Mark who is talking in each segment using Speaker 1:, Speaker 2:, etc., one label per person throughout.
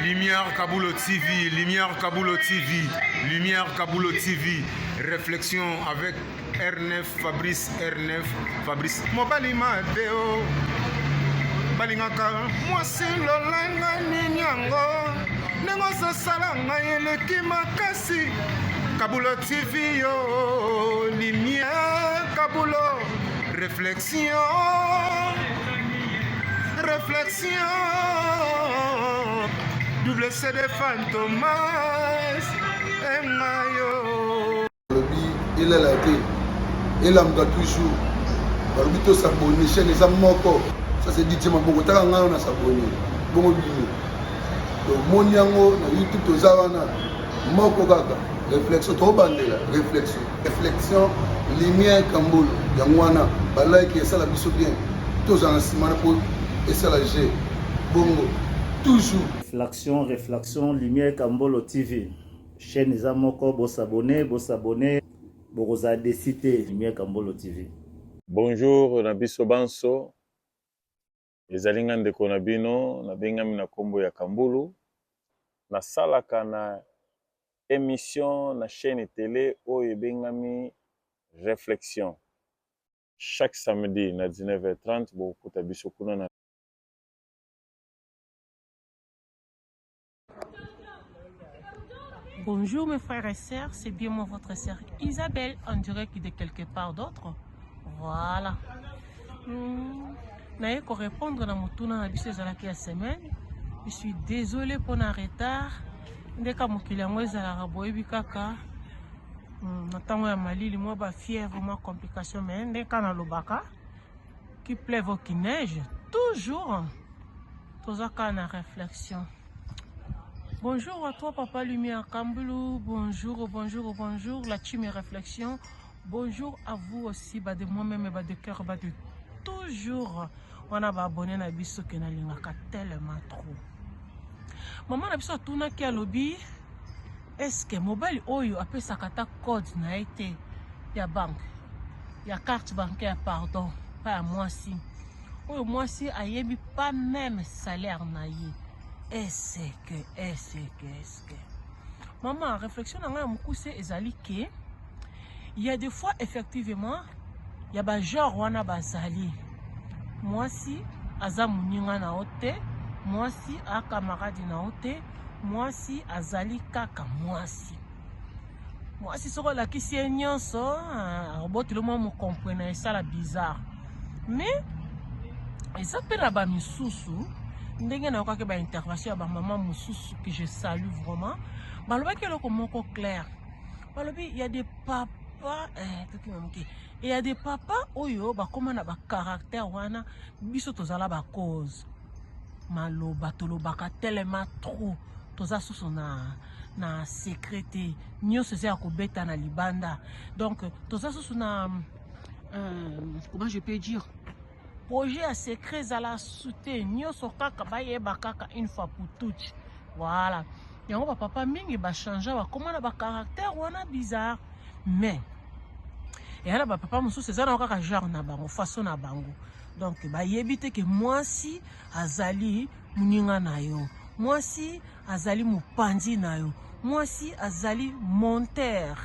Speaker 1: Lumière Kabulo TV, Lumière Kabulo TV, Lumière Kabulo TV, réflexion avec R9, Fabrice R9, Fabrice. Mobali Mateo, balingaka mwasi lolanga nini yango ndenge ozosala ngai eleki makasi Kabulo TV yo, Lumière Kabulo, réflexion. Réflexion, double CD Fantomas, et
Speaker 2: Mayo. Il a été, il a toujours. balobi tosabone chaine eza moko ça c'est dit ma boko taka ngai na sabone bongo bino tomoni yango na youtube toza wana moko kaka réflexion tobandela réflexion Reflexion Lumière Kambolo yango wana ba like esala biso bien tozala na nsima na po esala je bongo toujours Reflexion Reflexion
Speaker 3: Lumière Kambolo TV chaîne eza moko bosabone bosabone bokozala desi te Lumière Kambolo TV. Bonjour
Speaker 4: na biso banso. Ezali nga ndeko na bino na bengami na kombo ya Kambulu. Na salaka na emission na chaîne tele oyo ebengami Reflexion. Chaque samedi na 19h30 bokuta biso kuna na
Speaker 5: Bonjour mes frères et sœurs, c'est bien moi votre sœur Isabelle en direct de quelque part d'autre. Voilà. Hmm. naye korépondre na motuna na biso ezalaki ya semaine je suis désolé mpo na retard ndeka mokili yango ezalaka boyebi kaka hmm, na ntango ya malili mwa bafièvre mwa complication mai ndeka nalobaka qui plève au qui neige toujours Toza kaka na reflexion. Bonjour à toi Papa Lumière Kambulu, bonjour, bonjour, bonjour, la team et réflexion. Bonjour à vous aussi, bah de moi-même et bah de cœur, bah de toujours. On a bah abonné na biso que na lingaka tellement trop. Maman na biso atuna ki alobi est-ce que mobile oyo apesaka ta code na ye te ya banque ya carte bancaire pardon pa ya mwasi Oyo mwasi ayebi pas meme salaire na ye. Est-ce que, est-ce que, est-ce que. Maman, réflexion na ngai ya mokuse ezali que il y a des fois effectivement il y a ba genre wana bazali. Mwasi aza muninga na yo te, mwasi a camarade na yo te, mwasi azali kaka mwasi. mwasi soki olakisi ye nyonso ah, oboteli mwa mokompwe na esala bizarre mais eza mpe na bamisusu ndenge nayokaki baintervention ya bamama mosusu que je salue vraiment balobaki eloko moko claire balobi ya de papa eh, tokima moke eya de papa oyo bakóma na bacaractère wana biso tozala bacause maloba tolobaka telema trop toza susu na na secret te nyonso eza ya kobeta na libanda donc toza susu na euh, comment je peux dire projet ya secret ezala sute nyonso kaka bayeba kaka une fois pour toute voilà yango bapapa mingi bachangea bakoma na bacaractère wana bizarre mais eya na bapapa mosusu eza na kaka genre na bango façon na bango donc bayebi te ke mwasi azali Moninga na yo mwasi azali mopanzi na yo, mwasi azali monteur.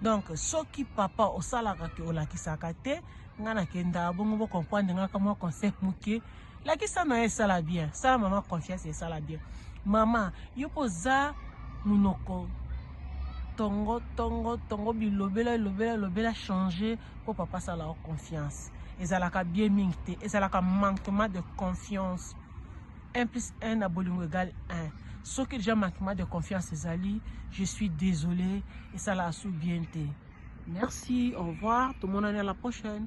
Speaker 5: Donc soki papa osalaka te olakisaka te, nga nakenda bongo bo comprendre nga ka mwa conseil moke. Lakisa na ye esala bien, sala mama confiance esala bien. Mama yo mpo oza monoko tongo tongo tongo bilobela lobela lobela changer mpo papa asala yo confiance ezalaka bien mingi te ezalaka manquement de confiance 1 plus 1 na bolingo egal 1 soki déjà manquement de confiance ezali je suis désolé esalaka su bien te merci au revoir tomonani à la prochaine